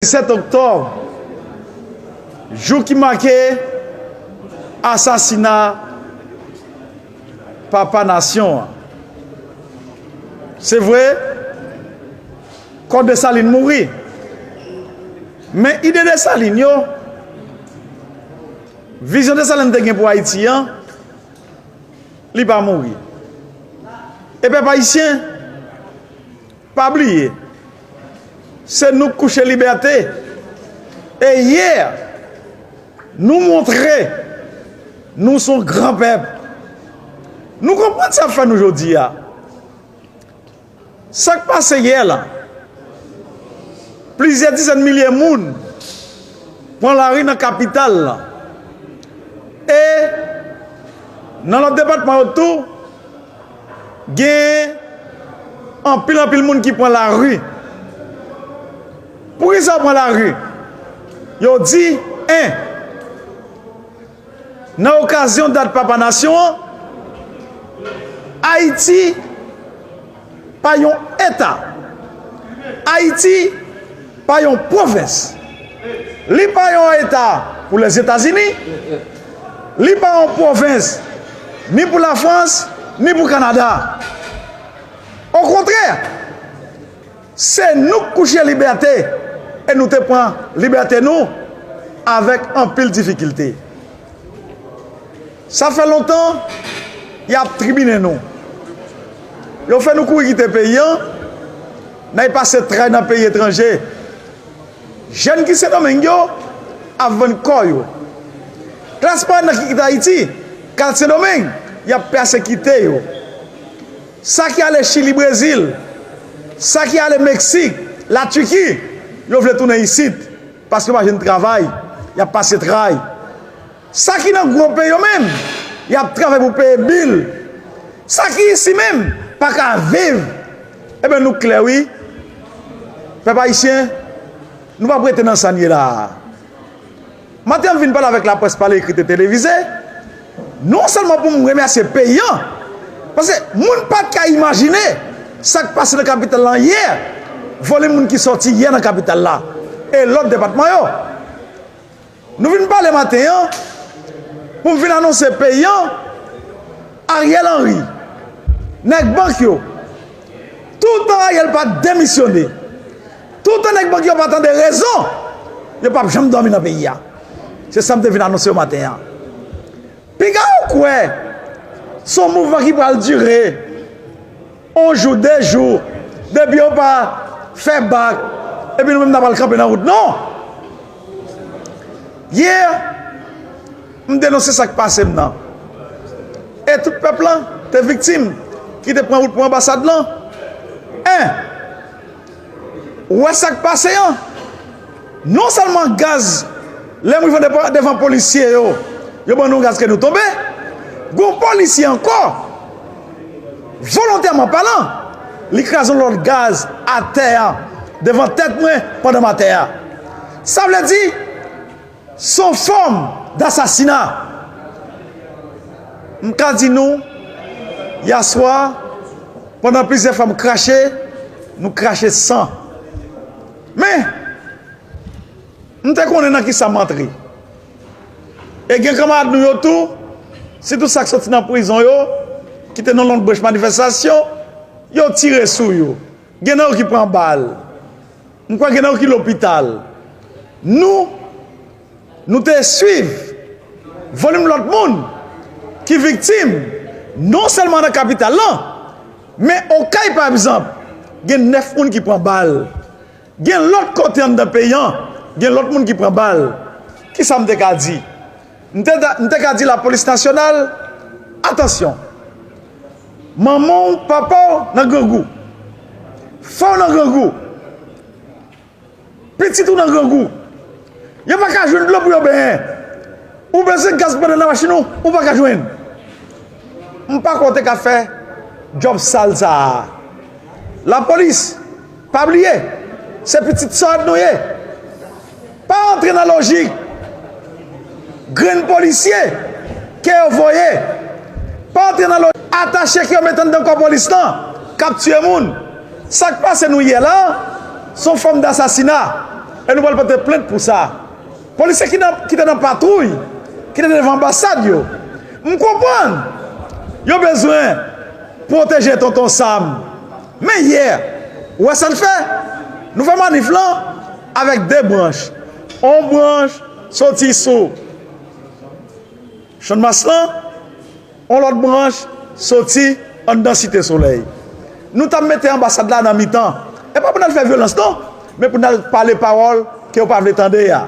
7 oktòb, jou ki make asasina papa nasyon an. Se vre, kò Desalin mouri, men ide Desalin yo, vizyon Desalin te gen pou Ayiti an, li pa mouri. E pèp ayisyen pa bliye. Se nou k kouche libète. E yè, nou montre nou son gran pèp. Nou konprann sa fè nou jodi a. Sa k pase yè la, plizyè dizèn milye moun pran lari nan kapital la. E nan lòt depatman yo tou. Gen anpil anpil moun ki pran lari. Poukisa yo pran lari? Yo di 1. Nan okazyon dat Papa Nasyon an, Ayiti pa yon eta. Ayiti. Pa yon pwovens. Li pa yon eta pou Lèzetazini, li pa yon pwovens ni pou Lafrans, ni pou Kanada. Okontrè, se nou k kouche libète e nou te pran libète nou avèk anpil difikilte. Sa fè lontan y ap tribinen nou. Yo fè nou kouri kite peyi an, n ay pase tray nan peyi etranje. Jèn ki Sendomeng yo ap vann kò yo. Klas pa nan ki kite Ayiti, k al Sendomeng, y ap pèsekite yo. Sa ki ale Chili, Brezil, sa ki ale Meksik, Latiki, yo vle tounen isit paske yo pa jwenn travay, y ap pase tray. Sa ki nan gwo peyi yo menm, y ap travay pou peye bil. Sa ki isi menm, pa ka viv. Eben nou klè wi. Pèp ayisyen, nou p ap rete nan sa n ye la a. Maten m vin pale avèk laprès pale ekrit e televize, non sèlman pou m remèsye peyi an, paske moun pa t ka imajine sa k pase nan kapital la yè, volim moun ki sòti yè nan kapital la e lòt depatman yo. Nou vin pale maten an pou m vin anonse peyi an Ariel Henry nèg bank yo toutan Ariel pa demisyone toutan nèg bank yo pa tande rezon yo pap janm dòmi nan peyi a se sa m te vin anonse yo maten an piga ou kwè son mouvman ki pral dire On jou, de jou, depi yo pa fè bak, epi nou menm n ap al kanpe nan wout non! Yè, m denonse sa k pase m nan. E tout pèp lan te viktim ki te pran wout pou anbasad lan? 1. Ou wè sak pase an? Non sèlman gaz lè m rive devan polisye yo, yo ban nou gaz kè nou tonbe, gon polisye ankò volontèman palan li kraze yon lòt gaz atè a devan tèt mwen pandan m atè a. Sa vle di. Son fòm dasasina. M ka di nou, yaswa, pandan plizyè fwa m krache, nou krache san. Men, m te konnen nan kisa m antre. E gen kanmarad nou yo tou, sitou sa k soti nan prizon yo, ki te nan lòt branch manifestasyon, yo tire sou yo. Gen nan yo ki pran bal. M kwè gen nan ki lopital. Nou Nou te swiv volim lòt moun ki viktim non sèlman nan kapital lan men Okay pa egzanp gen 9 moun ki pran bal gen lòt kote anndan peyi an gen lòt moun ki pran bal kisa m te ka di M te ka di lapolis nasyonal, atansyon, manman w, papa w nan grangou, frè w nan grangou, pitit ou nan grangou, yo pa ka jwenn dlo pou yo benyen, ou bezwen gaz pou mete nan machin ou, ou pa ka jwenn. M pa kwè w te ka fè djòb sal sa a. Lapolis! Pa bliye, se pitit sòd nou ye. Pa antre nan lojik grenn polisye ke yo voye, pa antre nan lojik atache ke yo mete anndan kò polis lan k ap tiye moun. Sa k pase nou yè la, se yon fòm dasasina e nou pral pote plent pou sa. Polisye ki te nan patwouy ki te devan anbasad yo, m konprann yo bezwen pwoteje Tonton Sam. Men hier, ou wè sa n fè? Nou fè manif lan avèk 2 branch. On branch soti sou Channmas lan, on lòt branch soti anndan Site Solèy. Nou ta mete anbasad la nan mitan. E pa pou n al fè vyolans non, men pou n al pale pawòl ke yo pa vle tande a.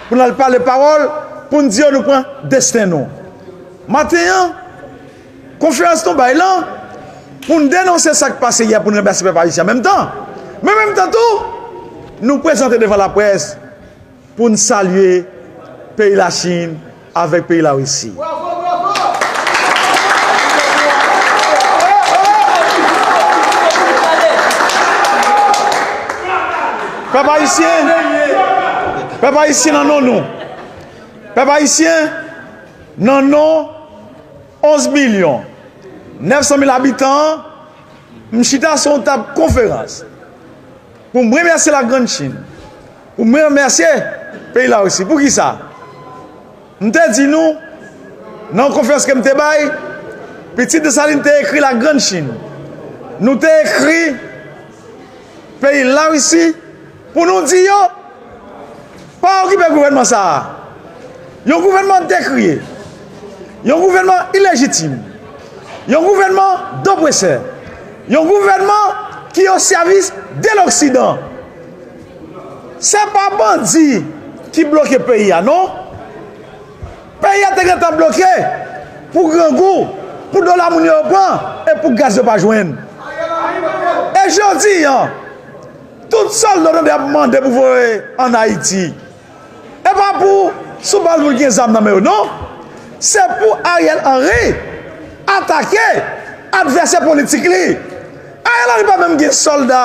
Pou n al pale pawòl pou n di yo nou pran desten nou. Maten an, Konfyans nou bay lan pou n denonse sa k pase yè pou n ranplase pèp ayisyen an menm tan. Men menm tan tou, nou prezante devan laprès pou n salye peyi Lachin avèk peyi Larisi. Pèp ayisyen, pèp ayisyen nan non nou, pèp ayisyen nan non. 11 milyon 900 mil abitan an, m chita sou yon tab konferans pou m remèsye La Grand Chine, pou m remèsye peyi Larisi. Poukisa? M te di nou, nan yon konferans ke m te bay, pitit Desalin te ekri La Grand Chine, nou te ekri peyi Larisi, Pou nou di yo, Pa okipe gouvènman sa a. Yon gouvènman dekriye. Yon gouvènman ilejitim. Yon gouvènman dopresè. Yon gouvènman ki o sèvis de loksidan. Se pa bandi ki bloke peyi a non. Peyi a te gentan bloke pou grangou, pou dola moun yo yo pran e pou gaz yo pa jwenn. E jodi an. Tout sal nou tande ap mande pou voye an ayiti epa pou sou bal moun ki gen zam nan men yo non se pou ariel henry atake advèsè politik li ariel henry pa menm gen solda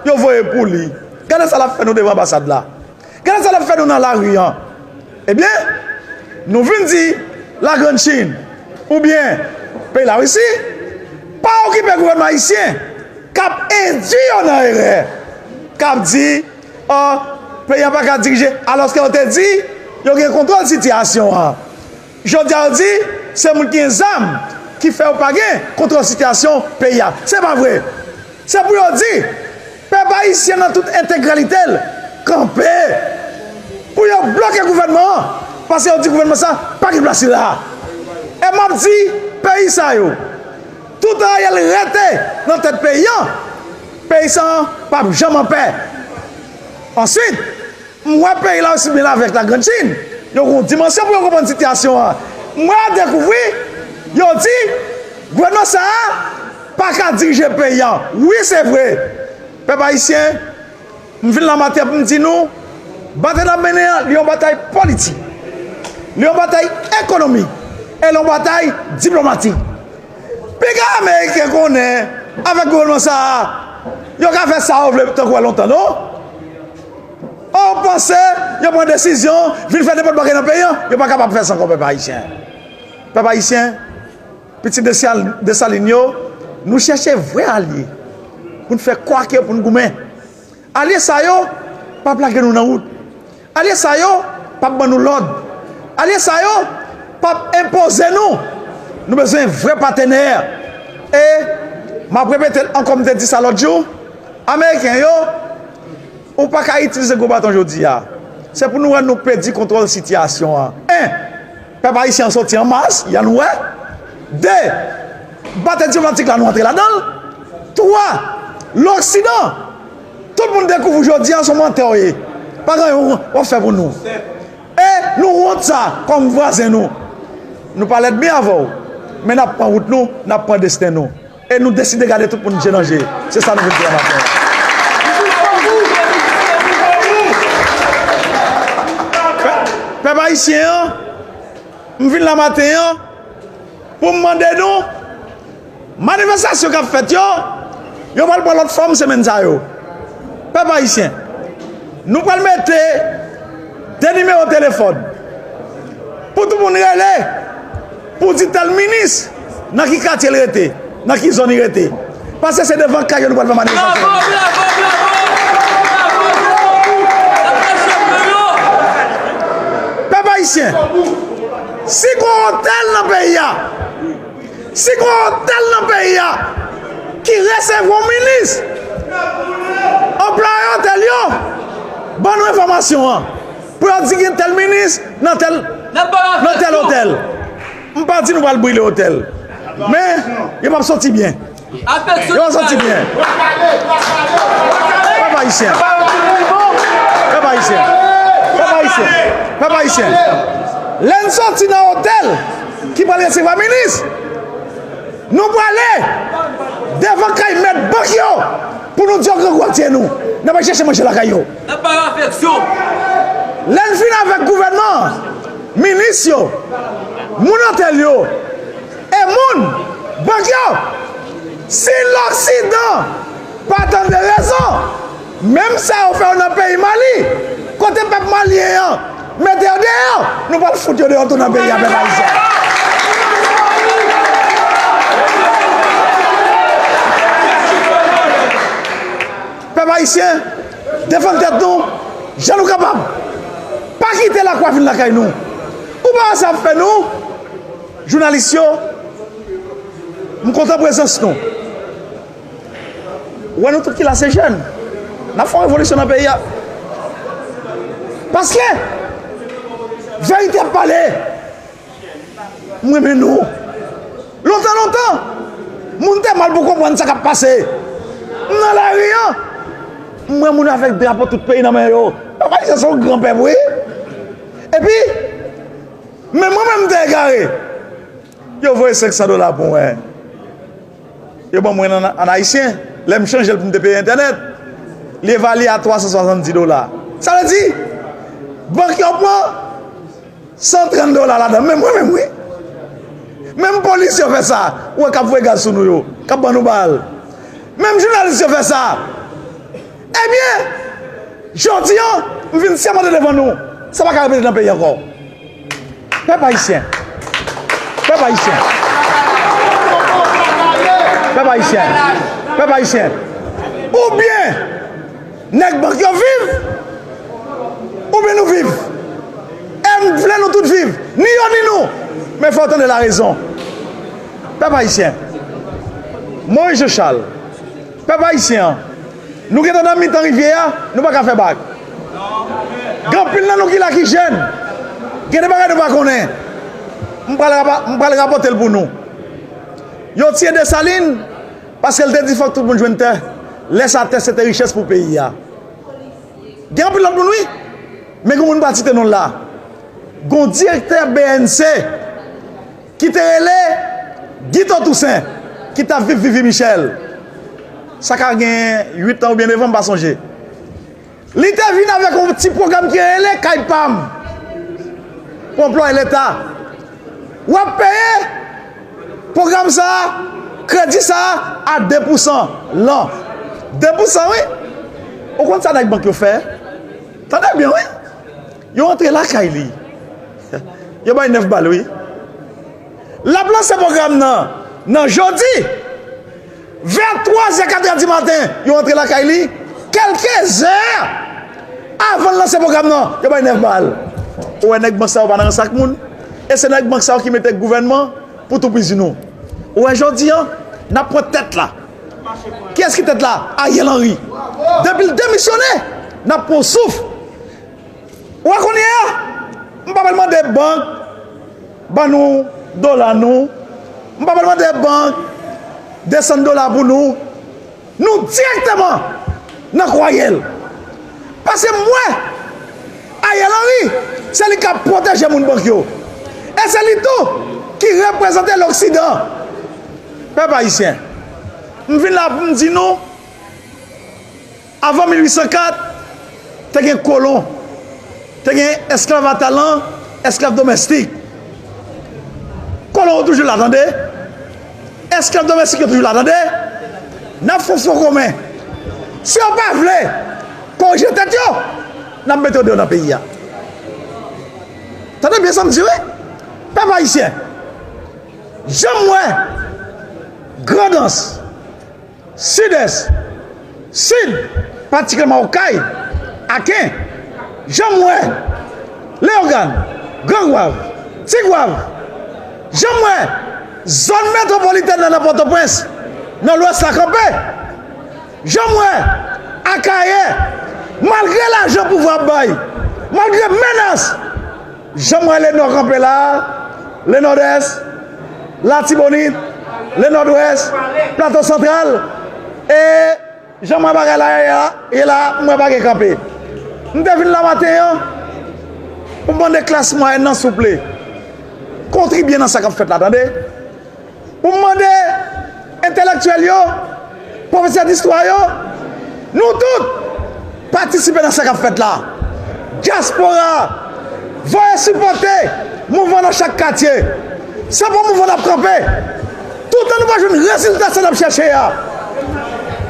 yo voye pou li gade sa lap fè nou devan anbasad la Gade sa lap fè nou nan lari an ebyen nou vin di la grande chine oubyen peyi la risi pa okipe gouvènman ayisyen kap endwi yo nan erè kap di oh peyi an paka dirije alòske yo te di yo gen kontwòl sitiyasyon an. Jodia yo di se moun ki gen zam ki fè yo pa gen kontwòl sitiyasyon peyi a. Se pa vre. Se pou yo di pèp ayisyen nan tout entegralite l kanpe pou yo bloke gouvènman an paske yo di gouvènman sa pa gen plas li la a. E m ap di peyi sa yo toutan Ariel rete nan tèt peyi an, peyi sa a p ap janm anpè. Answit. M wè peyi la osi byen lave ak la grand chine. Yo gen yon dimansyon pou yo konprann sitiyasyon an. M wè yo dekouvri, yo di, gouvènman sa a pa ka dirije peyi an. Wi se vre. Pèp ayisyen, m vin la maten pou m di nou, batay n ap mennen an, li yon batay politik, li yon batay ekonomik e li yon batay diplomatik. Piga ameriken konnen avèk gouvènman sa a yo ka fè sa yo vle tankou a lontan non. Ou panse yo pran desizyon vin fè nenpòt bagay nan peyi an? Yo pa kapab fè sa ankò pèp ayisyen. Pèp ayisyen, pitit Desalin yo, nou chèche vrè alye pou n fè kwake pou n goumen. Alye sa yo p ap lage nou nan wout. Alye sa yo p ap ban nou lòd. Alye sa yo p ap enpoze nou. Nou bezwen vrè patenè. E, m ap repete l ankò, m te di sa lòt jou, Ameriken yo, ou pa ka itilize gwo baton jodi a. Se pou nou wè nou pèdi kontwòl sitiyasyon an. 1. Pèp Ayisyen an soti an mas, ya nou wè. 2, Batè diplomatik la nou antre ladan l. 3, Loksidan, tout moun dekouvri w jodi an, s on mantè w ye. Pa gen anyen w ap fè pou nou. E nou wont sa kòm vwazen nou. Nou pa lèd mi avè w, men n ap pran wout nou, n ap pran desten nou. E nou deside gade tout moun je nan je. Se sa nou vle di a maten an. Pèp ayisyen an, m vin la maten an pou m mande nou, manifestasyon k ap fèt yo, yo pral pran lòt fòm semèn sa yo. Pèp ayisyen, nou pral mete 2 nimewo telefòn pou tout moun rele. Pou di tèl minis, nan ki katye l rete, nan ki zòn li rete. Pase se devan kay yo nou pral fè manifestasyon an. Pèp ayisyen, si gon otèl nan peyi a, si gon otèl nan peyi a ki resevwa yon minis, anplwaye otèl yo ban nou enfòmasyon an. Pou yo di gen tèl minis nan tèl nan tèl otèl. M pa di nou pral brile otèl. Men, yo p ap soti byen. Yo p ap soti byen. Pèp ayisyen. Pèp ayisyen. Pèp ayisyen. Pèp ayisyen. Lè n soti nan otèl ki pral resevwa minis, nou prale devan kay mèt bank yo pou nou di yo grangou ak je nou. N ap al chèche manje lakay yo. Nap bay afeksyon. Lè n fin avèk gouvènman an, minis yo, moun otèl yo e moun bank yo, si loksidan pa tande rezon, menm sa yo fè yo nan peyi Mali, kote pèp malyen an mete yo deyò, nou pral fout yo deyò tou nan peyi a pèp ayisyen. Pèp Ayisyen, defann tèt nou jan nou kapab. Pa kite lakwa vin lakay nou. Ou pa wè sa ap fè nou? Jounalis yo, m kontan prezans nou. Ou wè nou tout ki la se jèn. N ap fè yon revolisyon nan peyi a. Paske, verite ap pale. M renmen nou. Lontan lontan, moun te mal pou konprann sa k ap pase. M nan lari an, m wè moun avèk drapo tout peyi nan men yo. Papa Izo se yon gran pèp wi. Epi, menm mwen menm m te egare. Yo voye 500 dola pou mwen. Yo ban mwen an ayisyen. Lè m chanje l pou m te peye entènèt, li evalye a 370 dola. Sa vle di, bank yo pran. 130 dola ladan menm mwen menm wi menm polis yo fè sa ou wè kap voye gaz sou nou yo kap ban nou bal menm jounalis yo fè sa ebyen jodi an m vin sèmante devan nou sa paka repete nan peyi ankò pèp ayisyen pèp ayisyen pèp ayisyen pèp ayisyen oubyen Nèg bank yo viv oubyen nou viv? M vle nou tout viv, ni yo ni nou, men fè w tande larezon. Pèp Ayisyen, Moïse Jochal, Pèp Ayisyen an, nou gentan nan mitan rivyè a, nou pa ka fè bak. Gen anpil nan nou ki la ki jèn, gen de bagay nou pa konnen, m pral rapòte l pou nou. Yo tiye Desalin. Paske l te di fòk tout moun jwenn tè, lè sa tè se te richès pou peyi a. Gen anpil lòt moun wi, men gen yon moun m pa site non l la. Gen yon direktè bnc ki te rele Guitho Toussaint ki t ap viv Vivi Michel, sa ka gen 8 tan oubyen 9 an m pa sonje. Li te vin avèk yon ti pwogram ki rele Kay pa m pou anplwaye leta. W ap peye pwogram sa a, kredi sa a, a 2 pousan lan. 2 pousan wi! Ou konn sa nèg bank yo fè? Tande byen wi! Yo antre lakay li. Yo bay 9 bal wi. L ap lanse pwogram nan nan jodi. Vè 3 zè 4 è di maten, yo antre lakay li, kèlke zè avan l lanse pwogram nan, yo bay 9 bal. Ou wè nèg bank sa yo pa nan rans ak moun, e se nèg bank sa yo ki mete gouvènman pou toupizi nou. Ou wè jodi an, n ap pran tèt la. Kiyès ki tèt la? Ariel Henry. Depi l demisyone, n ap pran yon souf. Ou wè kounye a, m pa pral mande bank. Ban nou dola nou. M pa pral mande bank desann dola pou nou. Nou dirèkteman nan kwaye l. Pase m wè Ariel Henry se li k ap pwoteje moun bank yo. E se li tou ki reprezante loksidan. Pèp ayisyen, m vin la pou m di nou. Avan 1804, te gen kolon, te gen esklav a talan, esklav domèstik. Kolon yo toujou la tande, esklav domèstik yo toujou la tande, n ap fè yon fon komen. Si yo pa vle korije tèt yo, n ap mete yo deyò nan peyi a. Tande byen sa m di wi, pèp ayisyen, jan m wè Grandans, Sidès, Sid, patikilyèman Okay, Aken, Janm wè, Leyogàn, Gran Gwav, Ti Gwav, Janm wè, Zòn metwopolitèn nan nan Pòtoprens, nan Lwès la kanpe, Janm wè, Akayè, malgre lajan pouvwa ap bay, malgre menas. Jan m wè le nò kanpe la a, le nòdès, latibonit, le nòdwès, plato santral e jan m wè bagay la ye la a, m wè pa gen kanpe. M te vin la maten an pou m mande klas mwayèn nan souple kontribye nan sa k ap fèt la tande. pou m mande entelektyèl yo, pwofesè distwa yo, nou tout, patisipe nan sa k ap fèt la. Dyaspora, voye sipòte mouvman nan chak katye. Se pou mouvman n ap kanpe. Toutan nou pa jwenn rezilta sa n ap chèche a,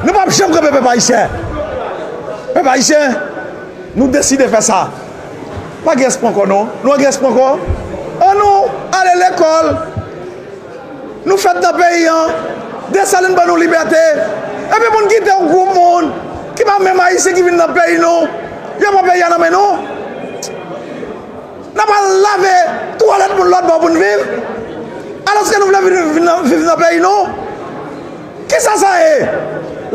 nou p ap janm kanpe pèp ayisyen. Pèp ayisyen, nou deside fè sa. Pa gen espo ankò non. Nou pa gen espo ankò. An nou ale lekòl. Nou fèt nan peyi an. Desalin ban nou libète. Epi pou n kite yon gwoup moun ki pa menm Ayisyen ki vin nan peyi nou. Yo pran peyi a nan men nou. N ap al lave twalèt moun lòtbò pou n viv. Alòske nou vle vin viv nan peyi nou. Kisa sa ye?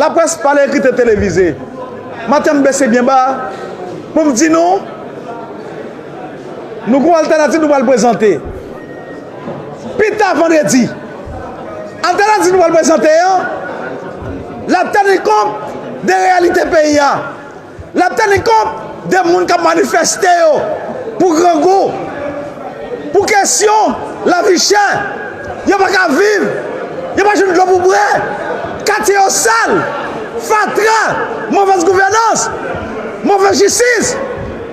Laprès pale ekri te televize. Maten m bese byen ba pou m di nou, nou gon altènativ nou pral prezante. Pi ta vandredi, altènativ nou pral prezante an, l ap teni kont de reyalite peyi a. Lap teni kont de moun kap manifeste yo pou grangou, pou kesyon lavi chè, yo pa ka viv, yo pa jwenn dlo pou bwè, katye yo sal, fatra, movèz gouvènans, movèz jistis,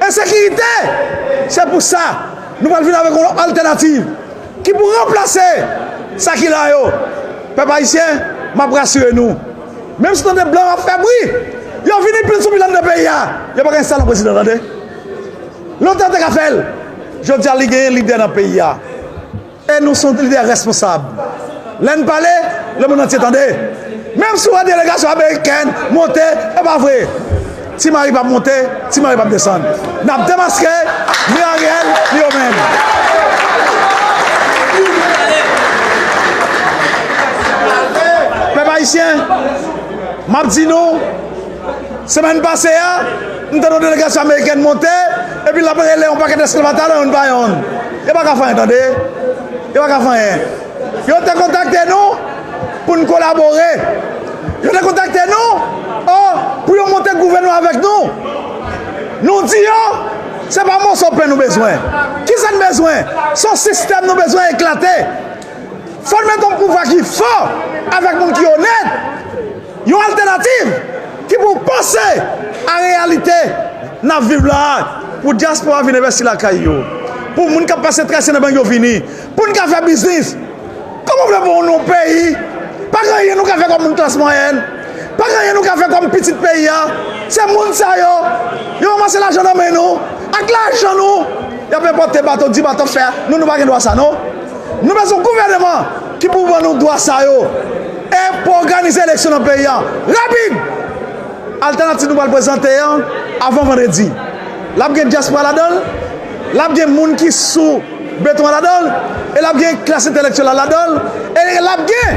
ensekirite. Se pou sa nou pral vin avèk yon lòt altènativ ki pou ranplase sa ki la yo. Pèp ayisyen, map rasire nou. Menm si w tande blan yo ap fè bri, yo vini pil sou pil anndan peyi a, yo pa gen salon prezidan tande. Lontan yo te ka fè l. Jodi a li genyen lidè nan peyi a. E nou son lidè responsab. Lè n pale, lemonn antye tande. Menm si w wè delegasyon amerikèn monte, e pa vre. Ti mari pap monte, ti mari pap desann. Nap demaske ni Ariel ni yo menm. Pèp ayisyen, map di nou, semèn pase a, m tande yon delegasyon amerikèn monte, epi lap rele yon pakèt esklav atalan youn pa youn. Yo paka fè anyen tande, yo paka fè anyen. Yo te kontakte nou pou n kolabore. Yo te kontakte nou o pou yo monte gouvènman avèk nou. Nou di yo, se pa moso pen nou bezwen. Ki sa n bezwen? Se yon sistèm nou bezwen eklate. Fò n mete yon pouvwa ki fò avèk moun ki onèt, yon altènativ ki pou panse a reyalite n ap viv la a, pou dyaspora vin envesti lakay yo, pou moun k ap pase trese nan bang yo vini. Pou n ka fè biznis. Kòman w vle pou yon peyi pa gen anyen nou ka fè kòm moun klas mwayèn, pa gen anyen nou ka fè kòm pitit peyi a? Se moun sa yo, yo ranmase lajan nan men nou, ak lajan nou y ap enpòte bato, di bato fè, nou nou pa gen dwa sa non. Nou bezwen yon gouvèneman ki pou ban nou dwa sa yo e pou òganize eleksyon nan peyi a rapid. Altènativ nou pral prezante an avan vandredi la ap gen dyaspora ladan l, l ap gen moun ki sou. Beton an ladan l e l ap gen klas entèlektyèl la ladan l e l ap gen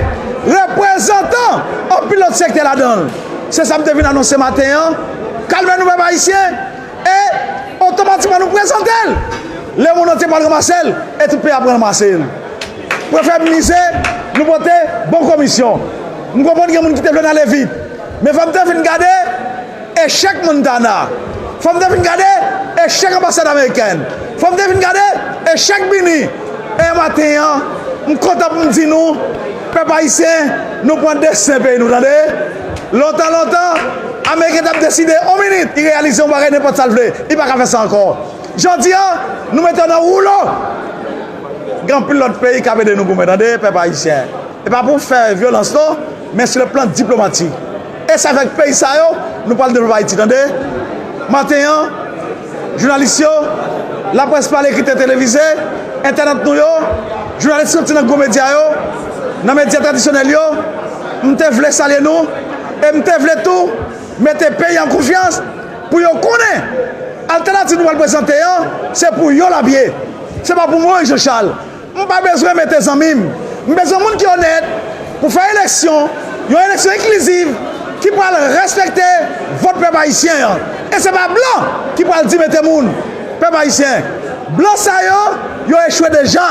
reprezantan anpil lòt sektè ladan l. Se sa m te vin anonse maten an. Kalme nou pèp ayisyen e otomatikman nou prezante l. Lemond antye pral ranmase l e tout peyi a pral ranmase l. Prefè m mize nou pote bon komisyon. M konprann gen moun ki te vle n ale vit men fò m te fin gade. Echèk Montana, fòm te fin gade echèk anbasad amerikèn, fòm te fin gade echèk Bini, e maten an m kontan pou m di nou pèp ayisyen nou pran desten peyi nou tande, lontan lontan ameriken tap deside on minit li reyalize yon bagay nenpòt sa l vle li paka fè sa ankò jodi an nou mete w nan woulo gen anpil lòt peyi kap ede nou goumen tande pèp ayisyen e pa pou fè vyolans non men sou le plan diplomatik. E se avèk peyi sa yo nou pral devlope Ayiti tande. Maten an, jounalis yo, laprès pale, kritè televize, entènant nou yo, jounalis soti nan gwo medya yo, nan medya tradisyonèl yo, m te vle salye nou e m te vle tou mete peyi an konfyans pou yo konnen altènativ nou pral prezante an se pou yo l ap ye, se pa pou Moyiz Janchal. M pa bezwen mete zanmi m. M bezwen moun ki onèt pou fè eleksyon, yon eleksyon enkliziv ki pral respekte vòt pèp ayisyen an. E se pa blan ki pral di mete moun. Pèp ayisyen, blan sa yo, yo echwe deja.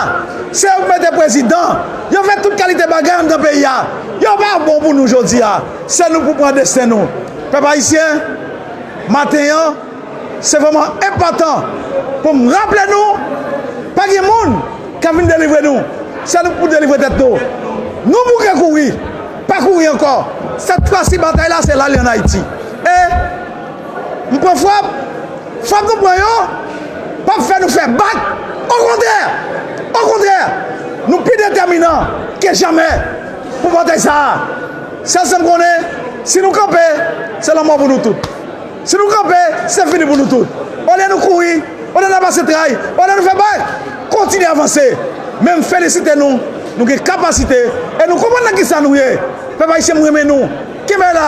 Se yo ki mete prezidan, yo fè tout kalite bagay anndan peyi a. Yo pa bon pou nou jodi a. Se nou pou pran desten nou. Pèp ayisyen, maten an. Se vrèman enpòtan pou m raple nou, pa gen moun k ap vin delivre nou, se nou k pou delivre tèt nou. Nou bouke kouri, pa kouri ankò, sèt fwa si batay la se la li ann Ayiti. E, m pran frap, frap nou pran yo p ap fè nou fè bak, okontrè, okontrè, nou pi detèminan ke jamè pou batay sa a. Sèl sa m konnen, si nou kanpe, se lanmò pou nou tout. Si nou kanpe, se fini pou nou tout. Olye nou kouri, olye nap pase tray, olye nou fè bay, kontinye avanse. Men m felisite nou, nou gen kapasite e nou konprann nan kisa nou ye. Pèp Ayisyen m renmen nou. Kenbe la,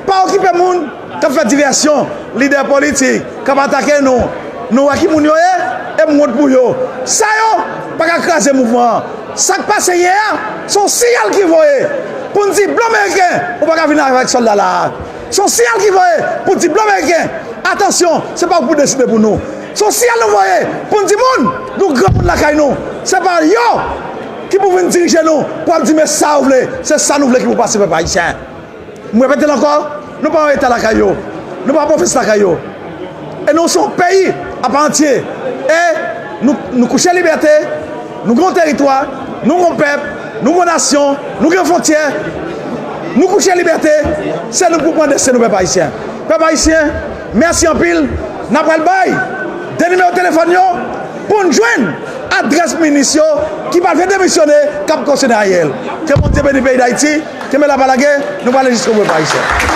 pa okipe moun kap fè divèsyon, lidè politik kap atake nou. Nou wè ki moun yo ye e m wont pou yo. Sa yo pa ka kraze mouvman an. Sak pase yè a, se yon siyal ki voye pou n di blan meriken ou pa ka vin avèk sòlda la a. Se yon siyal ki voye pou di blan meriken, atansyon, se pa ou pou deside pou nou. Se yon siyal nou voye pou n di moun, nou granmoun lakay nou, se pa yo ki pou vin dirije nou pou ap di men sa yo vle, se sa nou vle ki pou pase pèp ayisyen. M repete l ankò, nou pa yon eta lakay yo, nou pa pwovens lakay yo. E nou se yon peyi apantye e nou kouche libète. Nou gen yon teritwa, nou gen yon pèp, nou gen yon nasyon, nou gen fontyè, nou kouche libète, se nou pou pran desten nou pèp ayisyen. Pèp ayisyen, mèsi anpil, n a pral bay 2 nimewo telefòn yo pou n jwenn adrès minis yo ki pa vle demisyone k ap kosyonnen Ariel. Ke Bondye beni peyi Dayiti, kenbe la pa lage, nou prale jiskobou pèp ayisyen.